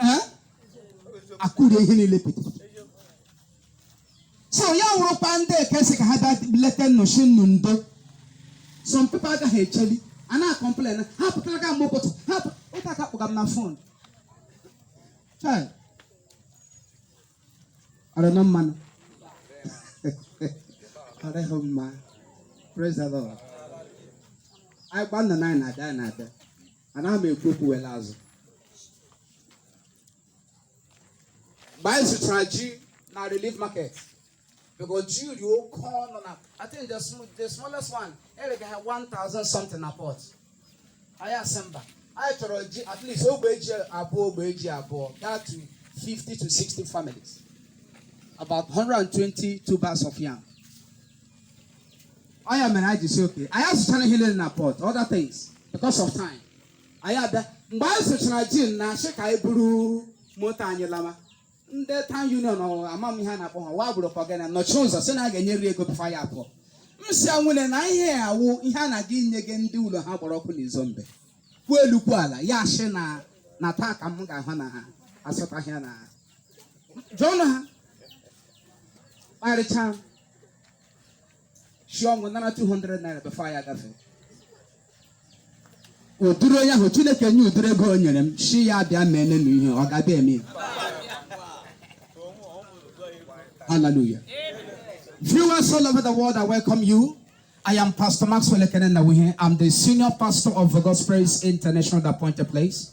ee akụrie ihe niile pete so ya wụrụkwa ndị kwesị ka ha bịa leta ụnụ sị ụnụ ndo some people agaghị echeli a na-complain ha pụtara ka mgbe ụbọchị ha pụ- ịta ha kpọga m na phone Chai. Ọ dịghị mma nụ ọ dịghị mma praise the lord anyị gwa ụnụ na anyị na-abịa anyị na-abịa anaghị m ekwu okwu were azụ mgbe anyị zụchara ji na relief market because ji dị oke ọnụ na I think the, sm the smallest one e rega ha 1000 something na Port anyị asị mba anyị chọrọ ji at least ogbe ji abụọ ogbe ji abụọ gaa to 50 to 60 families about 120 tubers of yam ọ ya mere anyị ji sị okay anyị azụchara ihe niile na Port other things because of time anyị abịa mgbe anyị zụchara ji na-asị ka anyị buru moto anyị lama ndị town union ọ ama m ihe a na-akpọ ha wa gburu kọgana nọchi ụzọ sị na a ga-enyeriri ego before ya pụọ m sị anwụle na ihe a wụ ihe a na-aga inyega ndị ụlọ ha gbara ọkụ n'Izombe kwuo elu kwuo ala ya asị na na taa ka m ga-ahụ na ha asụtaghị ya na ha jụọnụ ha kparịchaa m si ọnwụ nara 200 naira before anyị agafe ụdịrị onye ahụ chineke nye ụdịrị ego o nyere m sị ya bịa ma enenu ihe ọ ga-abịa eme ya Hallelujah. Viewers all over the world, I welcome you. I am Pastor Maxwell Ekene Nnawuihe. I'm the senior pastor of Vogospraise International, the appointed place.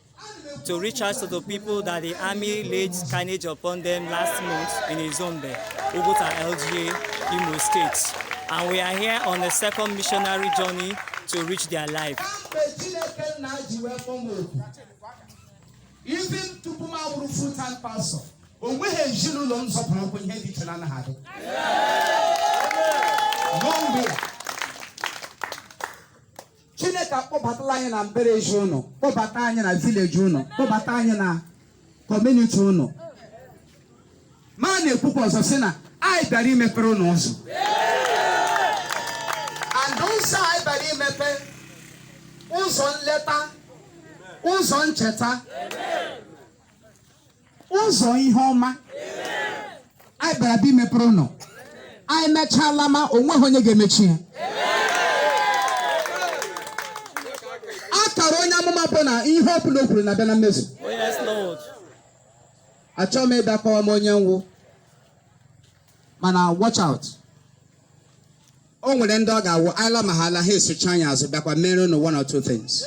to reach out to the people that the army laid carnage upon them last month in Izombe, Uguta LGA, Imo State. And we are here on the second missionary journey to reach their life. Even tupu m awụrụ full time pastor, o nweghị ezinụlọ m zọpụrụ ụkwụ ihe dị iche na anaghị adị. N'ogbe chineke akpọbatala anyị na mbara ezi ụnụ kpọbata anyị na village ụnụ kpọbata anyị na community ụnụ ma a na-ekwukwa ọzọ sị na anyị bịara imepere ụnụ ụzọ and ụzọ anyị bịara imepe ụzọ nleta ụzọ ncheta ụzọ ihe ọma anyị bịara bịa imepere ụnụ anyị mechaa lama o nweghị onye ga-emechi ya akara onye amụma bụ na ihe ọ bụla o kwuru na-abịa na mmezu Oh, yes, Lord. achọghị m ịbịa kọwama onye m wụ mana watch out o nwere ndị ọ ga-awụ a lama ha ala ha esochi anyị azụ bịakwa mere unu one or two things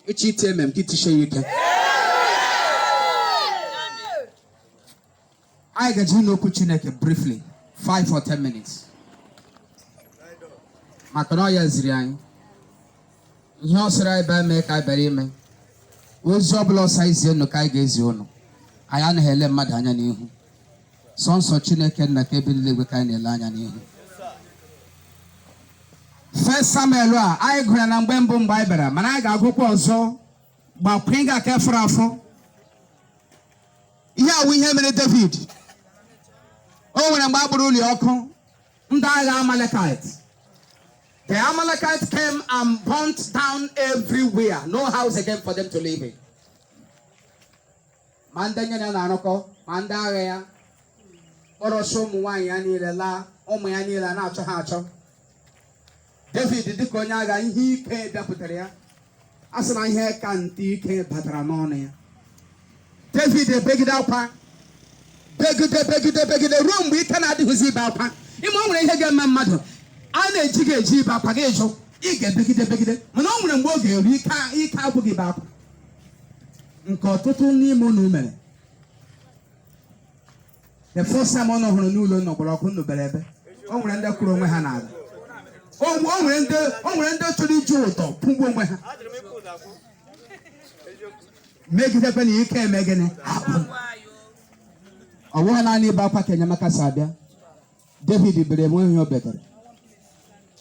echi iti amen ka i tishie ya ike anyị ga-eje ịnụ okwu chineke briefly 5 or 10 minutes maka na ọ ya ziri anyị ihe ọ sịrị anyị bịa mee ka anyị bịara ime ozi ọbụla ọ sị zie unu ka anyị ga-ezi unu anyị anaghị ele mmadụ anya n'ihu sọnsọ chineke nna nke bi n'eluigwe ka anyị na-ele anya n'ihu First Samuel a anyị gụrụ ya na mgbe mbụ mgbe anyị bịara mana anyị ga-agụkwa ọzọ gbakwa ịga aka fọrọ afọ ihe a wụ ihe mere David o nwere mgbe a gbara ụlọ ya ọkụ ndị agha Amalekite the Amalekite came and burnt down everywhere no house again for them to live in ma ndị ya na ya na-arụkọ ma ndị agha ya kpọrọsị ụmụ nwaanyị ya niile laa ụmụ ya niile a na-achọ ha achọ david dịka onye agha ihe ike dapụtara ya a sị na ihe ka nte ike batara n'ọnụ ya david ebegide akwa begide begide begide ruo mgbe ike na-adịghịzi ibe akwa ị ma o nwere ihe ga-eme mmadụ a na-eji gị eji ibe akwa gị ajụ ị ga-ebegide begide mana o nwere mgbe ọ ga-eru ike agwụ gị ibe akwa nke ọtụtụ n'ime unu mere the first time unu hụrụ na ụlọ unu gbara ọkụ unu bere ebe o nwere ndị kụrụ onwe ha n'ala o nwe- o nwere ndị o nwere ndị chọrọ iji ụdọ kwụgbuo onwe ha megidekwe na ike eme gịnị agwụ ọ bụghị naanị ibe akwa ka enyemaka si abịa David bere o nweghị ihe o betere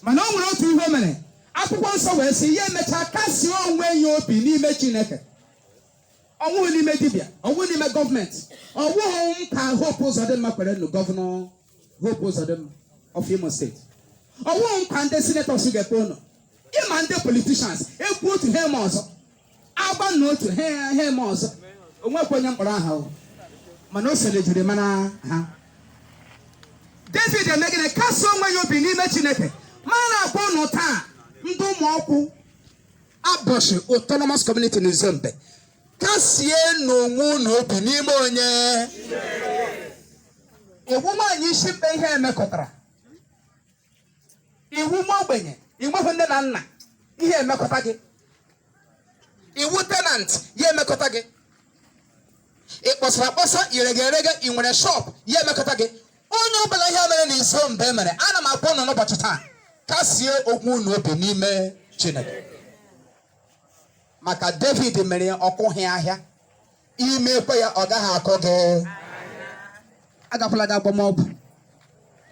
mana o nwere otu ihe o mere akwụkwọ nsọ wee sị ya emechaa kasie onwe ya obi n'ime chineke ọ wụghị n'ime dibịa ọ wụghị n'ime government ọ wụghị nkwa hope ụzọdịmma kwere ụnụ governor hope ụzọdịmma of imo state ọ wụghị nkwa ndị senators ga-ekwe ụnụ ị ma ndị politicians ekwuo otu ha eme ọzọ agwa ụnụ otu ha eme ọzọ o nwekwa onye m kpọrọ aha o mana o so n'ihe e jiri mara ha david eme gịnị kasie onwe ya obi n'ime chineke ma a na-akpọ ụnụ taa ndị Umuokwu Aboshi autonomous community n'izombe kasienụ onwe ụnụ obi n'ime onye ị wụ nwaanyị isi mkpe ihe emekọtara ị wụ nwa ogbenye i nweghị nne na nna ihe emekọta gị ị wụ tenant ihe emekọta gị ị kpọsara akpọsa i rege erege ị nwere shop ihe emekọta gị onye ọbụla ihe mere n'Izombe mere ana m akpọ ụnụ n'ụbọchị taa kasie ogwe unu obi n'ime chineke maka david mere ya ọ kụghị ahịa i mekwa ya ọ gaghị akọ gị agakwala gị agba mbọ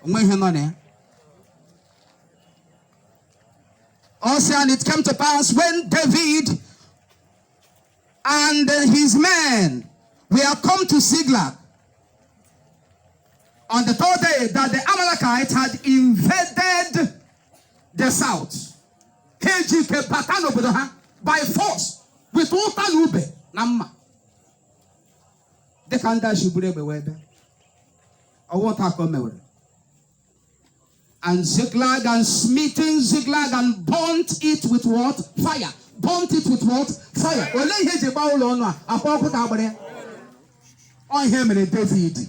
o nwe ihe nọ na ya Ọ sị and it came to pass when David and his men were come to Ziklag on the third day that the Amalekites had invaded the south. ha eji ike bata n'obodo ha by force with ụta na ube na mma dịka ndị a si buru egbe wee bịa ọ wụ otu a ka o mewere and Ziklag and smitten Ziklag and burnt it with what? Fire. Burnt it with what? Fire. Olee ihe e ji gbaa ụlọ unu a? Akwa ọkụ ka a gbara ya. Ọ ihe mere David.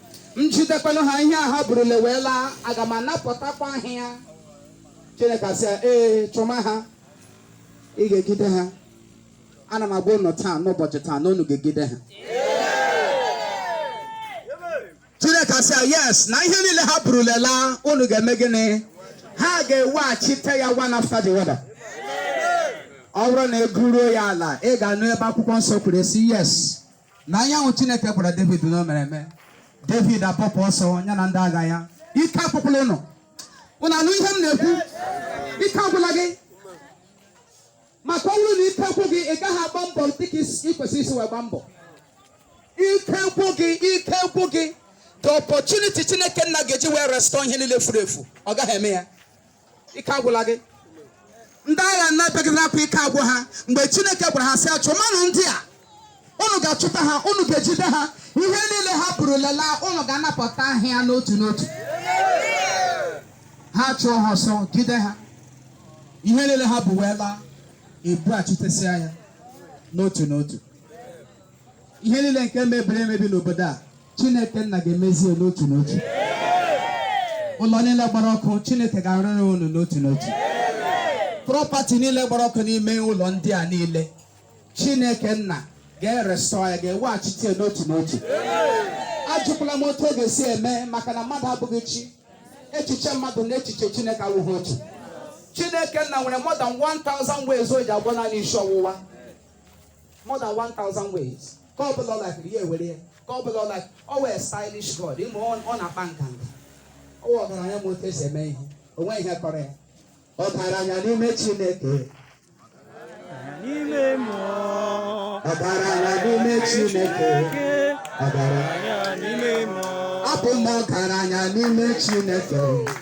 m jidekwanụ ha ihe a ha burule wee laa aga m anapụtakwa ha ya chineke asị ya ee chụma ha ị ga-ejide ha ana m agwa unu taa n'ụbọchị taa na unu ga-ejide ha chineke asị ya yes na ihe niile ha burule laa unu ga-eme gịnị ha ga-eweghachite ya one after the other ọ bụrụ na ị gụruo ya ala ị ga-anụ ebe akwụkwọ nsọ kwuru sị yes na ihe ahụ chineke gwara david na o mere eme david apụpụ ọsọ ya na ndị agha ya ike agwụkwala unu unu anụ ihe m na-ekwu ike agwụla gị maka ọ bụrụ na ike gwụ gị ị gaghị agba mbọ dịka ị kwesịrị isi wee gba mbọ ike gwụ gị ike gwụ gị the opportunity chineke nna ga-eji wee restore ihe niile furu efu ọ gaghị eme ya ike agwụla gị ndị agha na-ebegharị akwa ike agwụ ha mgbe chineke gwara ha sị chụmanụ ndị a unu ga-achụta ha unu ga-ejide ha ihe niile ha burule laa unu ga-anapụta ha ya n'otu n'otu ha chụọ ha ọsọ jide ha ihe niile ha bu wee laa e bughachitesịa ya n'otu n'otu ihe niile nke mebiri emebi n'obodo a chineke nna ga-emezi ya n'otu n'otu ụlọ niile gbara ọkụ chineke ga-arụrụ unu n'otu n'otu property niile gbara ọkụ n'ime ụlọ ndị a niile chineke nna ga-erestore ya ga-eweghachite ya n'otu n'otu ajụkwala m otu ọ ga-esi eme maka na mmadụ abụghị chi echiche mmadụ na echiche chineke awụghị otu chineke nna nwere more than 1000 ways o ji agwọ naanị isi ọwụwa more than 1000 ways nke ọ bụla ọ likiri ya ewere ya nke ọ bụla ọ like ọ wụ a stylish god ị ma ọ ọ na-akpa nganga ọ wụ ọgaranya ma otu e si eme ihe o nweghị ihe kọrọ ya ọgaranya n'ime chineke n'ime mmụọ ọgaranya n'ime chineke ọgaranya n'ime mmụọ abụ m ọgaranya n'ime chineke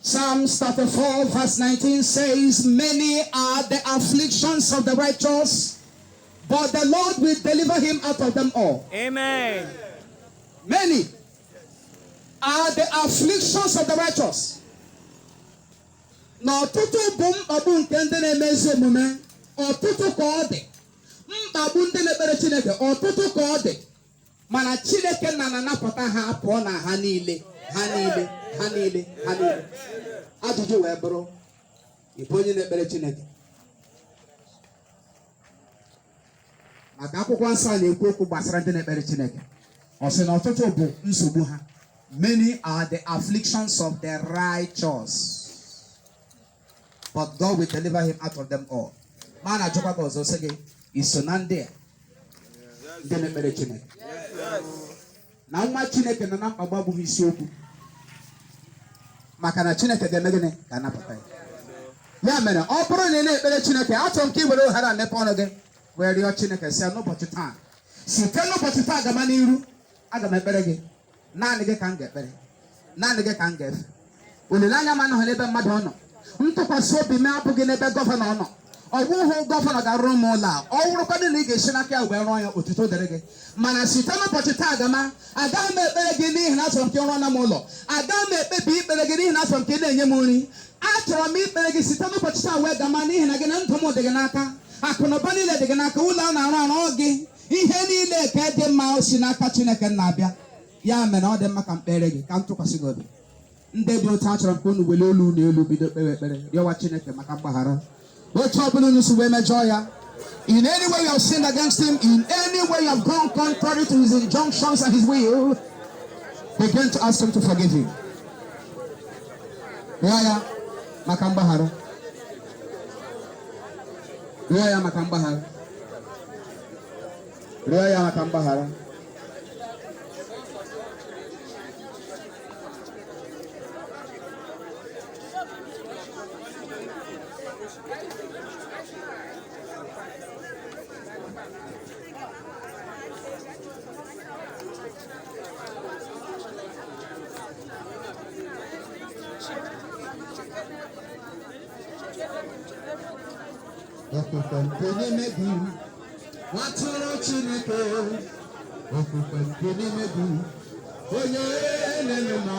Psalms 34, verse 19 says, Many are the afflictions of the righteous, but the Lord will deliver him out of them all. Amen. Many are the afflictions of the righteous. na ọtụtụ bụ mkpagbu nke ndị na-eme ezi omume ọtụtụ ka ọ dị mkpagbu ndị na-ekpere chineke ọtụtụ ka ọ dị mana chineke nna na-anapụta ha pụọ na ha niile ha niile ha niile ha niile ajụjụ wee bụrụ ị bụ onye na-ekpere chineke maka akwụkwọ nsọ a na-ekwu okwu gbasara ndị na-ekpere chineke ọ sị na ọtụtụ bụ nsogbu ha many are the afflictions of the righteous but God will deliver him out of them all ma a na-ajụkwa gị ọzọ sị gị i so na ndị a ndị na-ekpere Chineke na nwa Chineke nọ na mkpagbu abụghị isiokwu maka na Chineke ga-eme gịnị ga-anapụta ya ya mere ọ bụrụ na ị na-ekpere Chineke achọrọ m ka ị were ohere a mepe ọnụ gị wee rịọ Chineke si n'ụbọchị taa site n'ụbọchị taa gaba n'iru aga m ekpere gị naanị gị ka m ga-ekpere naanị gị ka m ga-efe olileanya m anọghị n'ebe mmadụ ọ nọ ntụkwasị obi m abụghị n'ebe gọvanọ ọ nọ ọ bụghị gọvanọ ga-arụrụ m ụlọ a ọ wụrụkwadị na ị ga-esi n'aka ya wee rụọ ya otuto dịrị gị mana site n'ụbọchị taa gama agaghị m ekpere gị n'ihi na achọrọ m ka ị rụọra m ụlọ agaghị m ekpebi ikpere gị n'ihi na achọrọ m ka ị na-enye m nri achọrọ m ikpere gị site n'ụbọchị taa wee gama n'ihi na gị na ndụ m dị gị n'aka akụ na ụba niile dị gị n'aka ụlọ a na-arụ arụ ọ gị ihe niile nke dị mma o si n'aka chineke na-abịa ya mere ọ dị mma ka m kpere gị ka m tụkwasị gị obi ndị dị otu a achọrọ m ka unu wele olu unu elu bido kpewe ekpere rịọwa chineke maka mgbaghara otu ọ bụla unu si wee mejọọ ya In any way you have sinned against him, in any way you have gone contrary to his injunctions and his will, begin to ask him to forgive you. rịọ ya maka mgbaghara. rịọ ya maka mgbaghara rịọ ya maka mgbaghara Okwukwe nke n'ime gị, nwatụrụ Chineke, okwukwe nke n'ime gị, onye na-eme mma.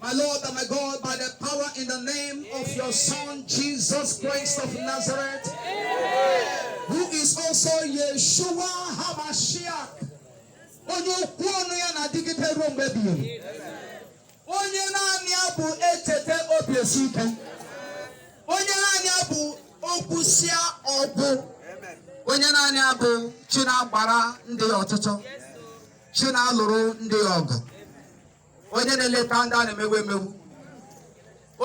My Lord and my God, by the power in the name of your Son, Jesus Christ of Nazareth, who is also Yeshua HaMashiach, onye okwu ọnụ ya na-adịgide ruo mgbe ebighị ebi onye naanị ya bụ echeta obi esie ike onye naanị ya bụ okwusịa ọ gwụ onye naanị ya bụ chi na-agbara ndị ọtụtụ chi na-alụrụ ndị ọgụ onye na-eleta ndị a na-emegbu emegbu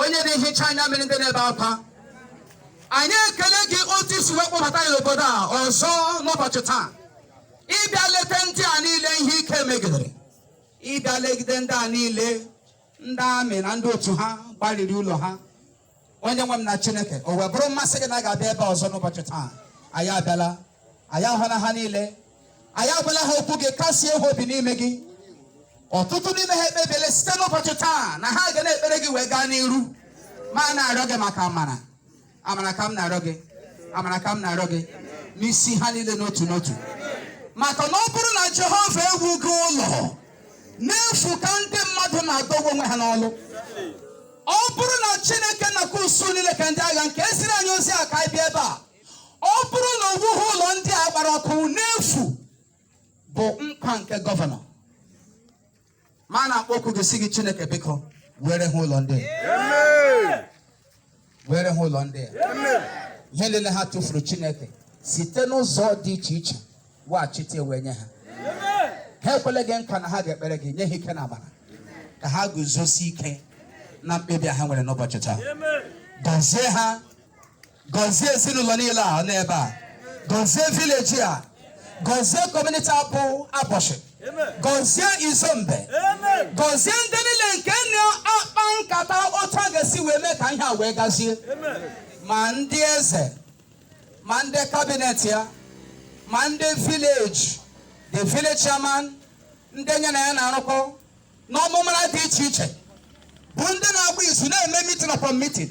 onye na-ehicha anya mmiri ndị na-ebe akwa anyị ekele gị otu i si wee kpọbata anyị obodo a ọzọ n'ụbọchị taa ịbịa leta ndị a niile ihe ike megidere ịbịa legide ndị a niile ndị amị na ndị otu ha gbariri ụlọ ha onye nwe m na chineke o wee bụrụ mmasị gị na a ga-abịa ebe a ọzọ n'ụbọchị taa anyị abịala anyị ahụla ha niile anyị agwala ha okwu gị kasie ha obi n'ime gị ọtụtụ n'ime ha ekpebiela site n'ụbọchị taa na ha ga na-ekpere gị wee gaa n'iru ma a na-arịọ gị maka amara amara ka m na-arịọ gị amara ka m na-arịọ gị n'isi ha niile n'otu n'otu maka na ọ bụrụ na jehova ewughị ụlọ n'efu ka ndị mmadụ na-adọgbu onwe ha n'ọlụ ọ bụrụ na chineke nke usuu niile nke ndị agha nke eziri anyị ozi a ka anyị bịa ebe a ọ bụrụ na o wughị ụlọ ndị a gbara ọkụ n'efu bụ nkwa nke gọvanọ ma a na-akpọku gị sị gị chineke biko wuere ha ụlọ ndị a. wuere ha ụlọ ndị a. ihe niile ha tụfuru chineke site n'ụzọ dị iche iche weghachite wee nye ha ha ekwele gị nkwa na ha ga-ekpere gị nye ha ike na amara ka ha guzosie ike na mkpebi ha nwere n'ụbọchị taa gọzie ha gọzie ezinụlọ niile a n'ebe a gọzie vileji a gọzie kọmuniti a bụ aboshi gọzie izombe gọzie ndị niile nke na-akpa nkata otu a ga-esi wee mee ka ihe a wee gazie ma ndị eze ma ndị kabinet ya ma ndị vileji the village chairman ndị nye na ya na-arụkọ n'ọmụmara dị iche iche bụ ndị na-agba izu na-eme mitin upon mitin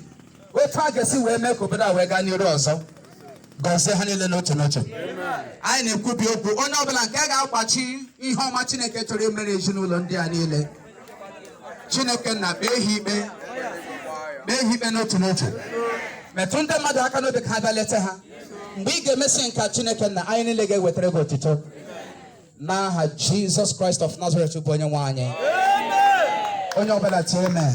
otu a ga-esi wee mee ka obodo a wee gaa n'iru ọzọ gọzie ha niile n'otu n'otu anyị na-ekwubi okwu onye ọbụla nke ga-akwachi ihe ọma chineke chọrọ imere ezinụlọ ndị a niile chineke nna kpee ha ikpe kpee ha ikpe n'otu n'otu metụ ndị mmadụ aka n'obi ka ha bịa leta ha mgbe ị ga-emesi nke a chineke nna anyị niile ga-ewetara gị otito n'aha jizọs kraịst of nazaret bụ onye nwe anyị onye ọbụla tie amen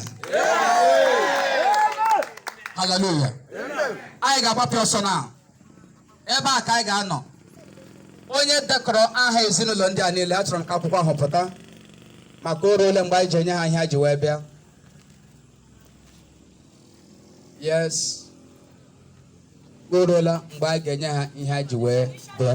haleluya anyị ga-agbapụ ọsọ na ebe a ka anyị ga-anọ onye dekọrọ aha ezinụlọ ndị a niile achọrọ m ka akwụkwọ ahụ pụta maka o ruole mgbe anyị ji enye ha ihe ha ji wee bịa yes o ruola mgbe a ga-enye ha ihe ha ji wee bịa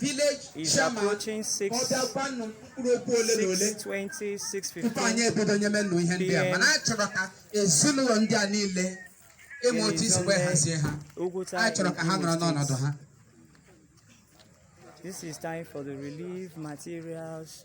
village chairman ọ bịa kwuo nụ mkpụrụ okwu ole na ole tupu anyị ebido nyeme unu ihe ndị a mana a chọrọ ka ezinụlọ ndị a niile e nwee otu e si wee hazie ha a chọrọ ka ha nọrọ n'ọnọdụ ha This is time for the relief materials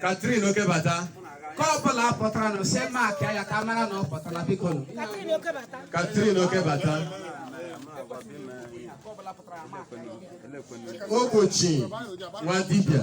Catherine Okebata nke ọ bụla pụtara na ose maakị ya ka a mara na ọ pụtala biko nụ. Catherine Okebata Ogbochi Nwadibịa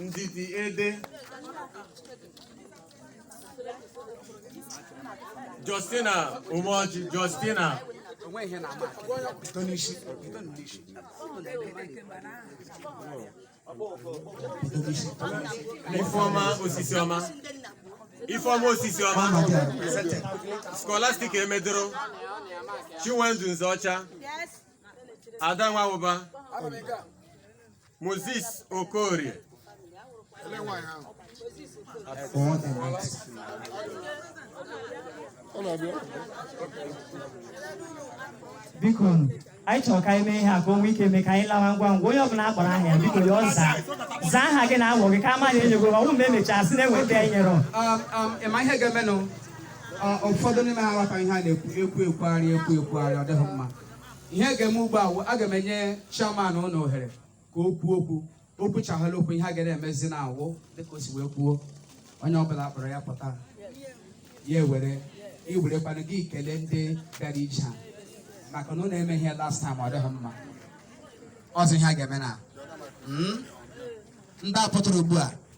Ndidi Ede Justina Umoji Justina Ifeoma Osisiọma Scholastic Emedoro Chinwendu Nzeọcha Ada Nwaụba Moses Okorie biko anyị chọrọ ka anyị mee ihe a ka o nwee ike mee ka anyị lawa ngwa ngwa onye ọbụla akpọrọ aha ya biko ya azaa zaa aha gị na ọ wụ gị ka a maghị enyego ọnwụ mgbe emechaa sị na-enwe ndị anyị nyere ịma ihe ga-emenụ ụfọdụ n'ime ha aghọtaghị ihe a na-ekwu ekwu ekwugharị ekwu ekwugharị ọ dịghị mma ihe a ga-eme ugbu a wụ aga m enye chairman unu ohere ka o kwuo okwu o kwuchaghala okwu ihe a ga na-emezi na awụ dịka o si wee kwuo onye ọbụla a kpọrọ ya pụta ya ewere i werekwana gị kelee ndị bịara ije a maka na unu emeghị ya last time ọ dịghị mma ọzọ ihe a ga-eme na Mm? ndị a pụtara ugbu a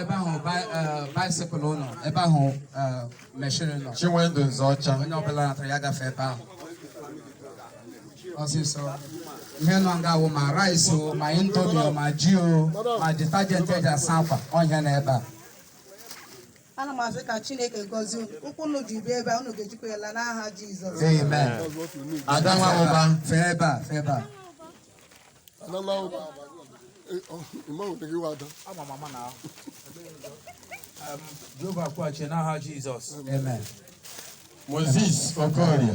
ebe ahụ bicycle nọ ebe ahụ machine nọ Chinwendu Nzeọcha onye ọbụla natara ya gafe ebe ahụ ọsịsọ ihe nọ nga wụ ma rice o ma indomi o ma ji o ma detergent eji asa akwa ọhịa na ebe a ana m asị ka chineke gọzie unu ụkwụ unu ji bịa ebe a unu ga-ejikwa ya la n'aha jizọs Amen. Ada Nwaụba fee ebe a fee ebe a. Jehova kwụghachie n'aha Jizọs. Amen. Moses Okorie.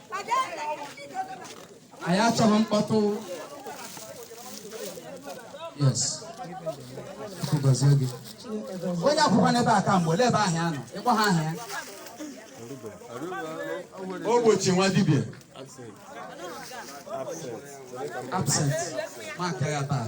anyị achọghị mkpọtụ yes Chukwu gọzie gị onye akwụkwọ n'ebe a ka mgbe olee ebe ahụ ya nọ ịkpọ ha aha ya Ogbochi Nwadibia absent maka ya taa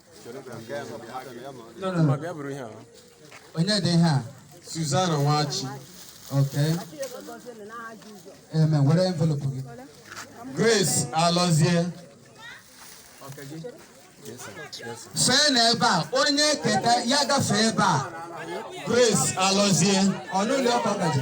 onye dị ihe a Suzana Nwachi okay eme were envelope gị Grace Alọzie fee n'ebe a onye keta ya gafee ebe a Grace Alọzie ọnụụlọ ọkọ gaji